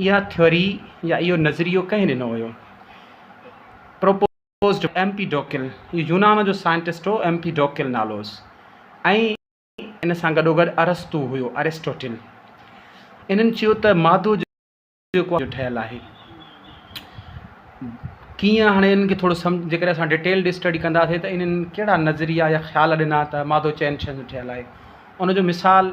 اها ٿيوري يا اهو نظريو ڪنهن ڏنو هيو؟ Proposed by Empedocles, هي يونان جو سائنٽسٽ هو، ايم پي ڊوڪل نالو هوس ۽ ان سان گڏوگڏ ارسطو هيو، Aristotle. انهن چيو ته مادو جيڪو آهي اهو جو ٺهيل آهي. ڪيئن هاڻي انهن کي ٿورو سمجهه جيڪڏهن اسان ڊيٽيلڊ اسٽڊي ڪنداسين ته انهن ڪهڙا نظريا يا خيال ڏنا ته مادو چئن شين جو ٺهيل آهي. ان جو مثال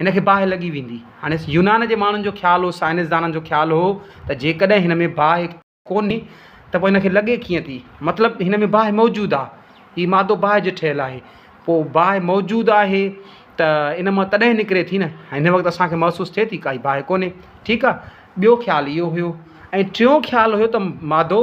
هن کي باهه لڳي ويندي. هاڻي يونان جي ماڻهن جو خيال هو، سائنسدانن جو خيال هو ته جيڪڏهن هن ۾ باهه ڪونهي ته پوء هن کي لڳي ڪيئن ٿي؟ مطلب هن ۾ باهه موجود آ، هي مادو باهه جو ٺهيل آهي، پوء باهه موجود آهي ته ان مان تڏهن نڪري ٿي نه، هن وقت اسان کي محسوس ٿئي ٿي ڪائي باهه ڪونهي، ٺيڪ آ، ٻيو خيال اهو هيو ۽ ٽيون خيال هيو ته مادو.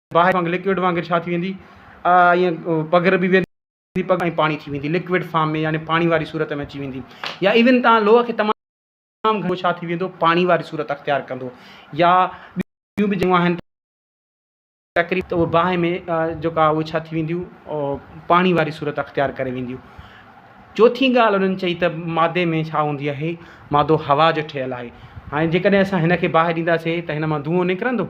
باهه وانگر لڪوڊ وانگر ڇا ٿي ويندي ائين پگهر به ويندي پگهر ۽ پاڻي ٿي ويندي لڪوڊ فارم ۾ يعني پاڻي واري صورت ۾ اچي ويندي يا ايون تان لوهه کي تمام تمام گهڻو ڇا ٿي ويندو پاڻي واري صورت اختيار ڪندو يا ٻيون به جون آهن تقريب ته اهي باهه ۾ جيڪا اهي ڇا ٿي وينديون پاڻي واري صورت اختيار ڪري وينديون چوٿين ڳالهه انهن چئي ته مادي ۾ ڇا هوندي آهي مادو هوا جو ٺهيل آهي هاڻي جيڪڏهن اسان هن کي باهه ڏينداسين ته هن مان دونهون نڪرندو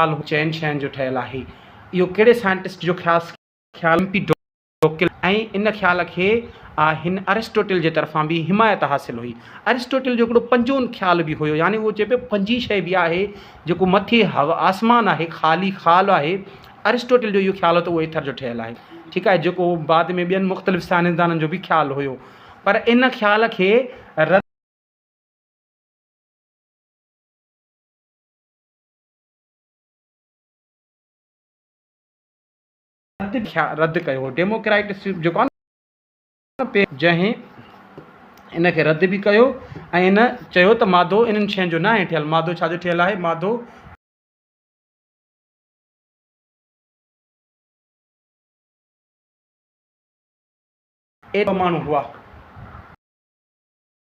خيال هو. چئن شين جو ٺهيل آهي. اهو ڪهڙي سائنٽسٽ جو خيال سکي ٿو؟ خيال ايمپيڊوڪل ۽ ان خيال کي آء هن ارسٽوٽل جي طرفان به حمايت حاصل هئي. ارسٽوٽل جو هڪڙو پنجون خيال به هيو يعني هو چئي پيو پنجي شيء به آهي جيڪو مٿي آسمان آهي خالي خال آهي ارسٽوٽل جو اهو خيال هو ته اهو ايٿر جو ٺهيل آهي ٺيڪ آهي جيڪو بعد ۾ ٻين مختلف سائنسدانن جو به خيال هيو پر ان خيال کي رد رد ڪيو هو ڊيموڪريٽ جيڪو آهي نه جنهن ان کي رد به ڪيو ۽ ان چيو ته مادو انهن شين جو ناهي ٺهيل مادو ڇا جو ٺهيل آهي مادو اهي ٻه ماڻهو هئا.